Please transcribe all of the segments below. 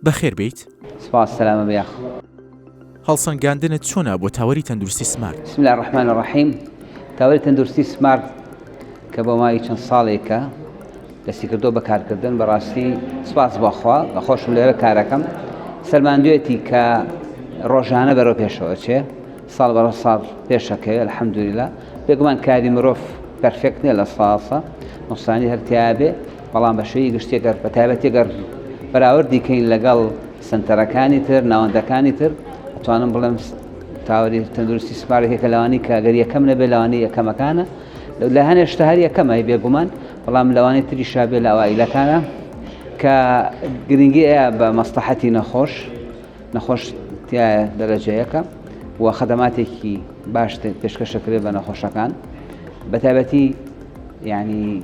بەخێر بێیت. سپاس سەلامە بە یاخ. هەڵسەنگاندنت چۆنە بۆ تاوەری تەندروستی سمارت؟ بسم اللە الرحمن الرحیم تاوەری تەندروستی سمارت کە بۆ ماوەی چەند ساڵێکە دەستی کردو بە کارکردن بەڕاستی سپاس بۆخوا بە خۆشم لێرە کارەکەم سەلماندوێتی کە ڕۆژانە بەرەو پێشەوە چێ ساڵ بەڕە ساڵ پێشەکەوێت الحەمدوریلا بێگومان کاری مرۆڤ پرفێکت نیە لە ساسە نوسانی هەرتیاێ بەڵام بە شێوەی گشتی گەر بە تایبەتی گەر بەراوردی کەین لەگەڵ سنتەرەکانی تر ناوەندەکانی تر توانم بڵێم تاوەری تەندروستی سپارێکێکە لەوانی کاگەر یەکەم نەبێ لەوانی یەکەمەکانە لە هەنێ شتە هەر یەکەمای بێگومان بەڵام لەوانی تری شابێ لە ئەوائیلەکانە کە گرنگی ئەیە بە مەستەحەتی نەخۆش نەخۆش تایە دەرەجەیەەکە و خەدەماتێکی باش پێشکەشەکرێت بە نەخۆشەکان بەتابەتی ینی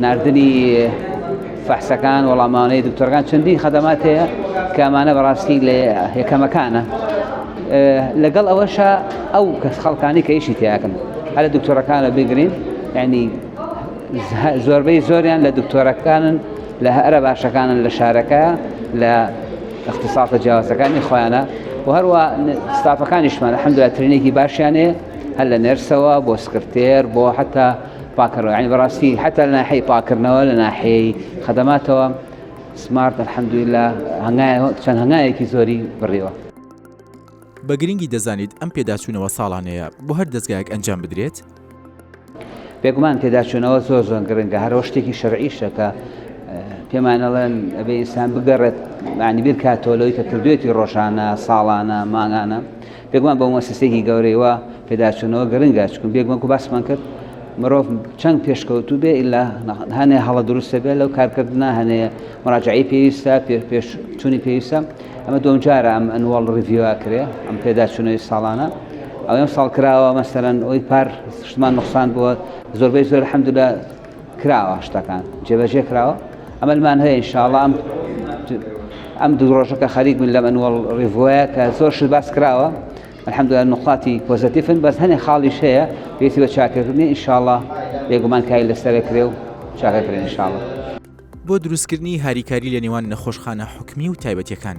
ناردنی فەحسەکان وەڵامانەی دکتۆرگان چەندین خەدەمات هەیە کامانە بەڕاستی لە یەکەمەکانە لەگەڵ ئەوەشە ئەو کەس خەڵکانی کە ئیشی تیاکەن هەر لە دکتۆرەکانە بگرین ینی زۆربەی زۆریان لە دکتۆرەکانن لە هەرە باشەکانن لە شارەکە لە اختصاصە جیاوازەکانی خۆیانە و هەروە ستافەکانیشمان حەمدواترینێکی باشیانێ هەر لە نرسەوە بۆ سکرتێر بۆ حتا پاکردنەوە یعنی بەڕاستی حتا لە ناحەی پاکردنەوە لە ناحەیەی خەدەماتەوە سمارت الحەمدویلا هەنگای چەند هەنگایەکی زۆری بڕیوە بە گرنگی دەزانیت ئەم پێداچوونەوە ساڵانەیە بۆ هەر دەستگایەک ئەنجام بدرێت بێگومان پێداچوونەوە زۆر زۆن گرنگە هەرەوە شتێکی شەرعیشەکە پێمانەڵێن ئەبێ ئینسان بگەڕێت معنی بیر کاتۆلەوەی کە کردوێتی ڕۆژانە ساڵانە ماگانە بێگومان بۆ مۆسیسێکی گەورەی وا پێداچوونەوە گرنگە چکن بێگومان کو باسمان کرد مرۆڤ چەند پێشکەوتو بێ ئللا هەنێ هەڵە دروستە بێ لەو کارکردنا هەنێ مراجعی پێویستە پێش چونی پێویستە ئەمە دۆمجارە ئەم ئەنوەڵ ڕڤیوە کرێ ئەم پێداچوونەوەی ساڵانە ئەو ئەم ساڵ کراوە مەسەرەن ئەوی پار شتمان نقصان بووە زۆربەی زۆر حەمددا کراوە شتەکان جێبەجێ کراوە ئەمەلمان هەیە انشاءڵە ئەم ئەم دوو ڕۆژەکە خەریک من لە منوەڵ ڕیڤۆە کە زۆر شت باس کراوە الحمد لله نقاتی پۆزتیفن بەس هەنێ خاڵیش هەیە پێسی بە چاکردنی انشاءڵە بێگومان کاری لەسەرە کرێ و چاکەکرێن انشاءڵە بۆ دروستکردنی هاریکاری لە نێوان نەخۆشخانە حکومی و تایبەتەکان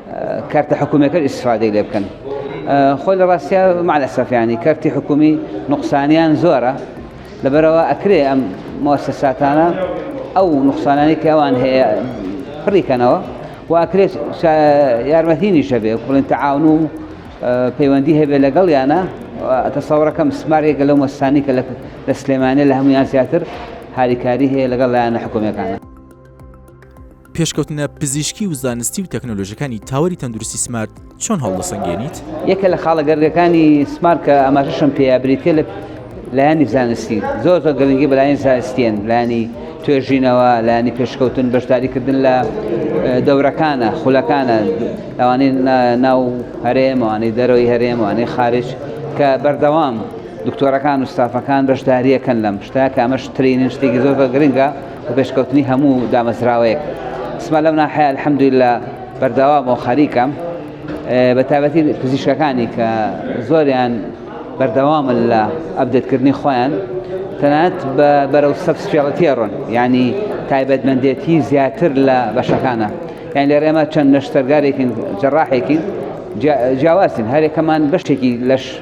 کەرتە حکومیەکەش ئیستفادەی لێ بکەن خۆی لە ڕاستیا مالەسەفیانی کەرتی حکومی نقصانیان زۆرە لەبەرەوە ئەکرێ ئەم مۆسەساتانە ئەو نقصانانی کە ئەوان هەیە پڕیکەنەوە و ئەکرێت یارمەتینی شەبێ بڵێن تەعاون و پەیوەندی هەبێ لەگەڵ یانە تەسەوڕەکەم سمارێکە لەو مەسانی کە لە سلێمانە لە هەمویان زیاتر هاریکاری هەیە لەگەڵ لایەنە حکومیەکانە پێشکەوتنە پزیشکی و زانستی و تەکنۆلۆژەکانی تاوەری تەندروستی سمارت چۆن هەڵدەسەنگێنیت یەکە لە خاڵە گەرگەکانی سمارکە ئەماشەشم پێیا بریتە لە لایانی زانستی زۆر زۆر گەلنگی بەلایەن زانستیان لانی توێژینەوە لانی پێشکەوتن بەشداریکردن لە دەورەکانە خولەکانە ئەوانەی ناو هەرێم ئەوانەی دەرەوەی هەرێم ئەوانەی خارج کە بەردەوام دکتۆرەکان و ستافەکان بەشداریەکەن لەم شتا کامەش ترینین شتێکی زۆر گرنگە و پێشکەوتنی هەموو دامەزراوەیەک سمە لەم ناحەیە الحمدللە بەردەوام و خەریکەم بە تابەتی پزیشکەکانی کە زۆریان بەردەوامن لە ئەبدێتکردنی خۆیان تەنات بە بەرەو سەبسپیاڵەتیە ڕۆن ینی تایبەتمەندێتی زیاتر لە بەشەکانە یان لێ رێمە چەند نەشتەرگارێکین جەڕاحێکین جیاوازین هەرێکەمان بەشتێکی لەش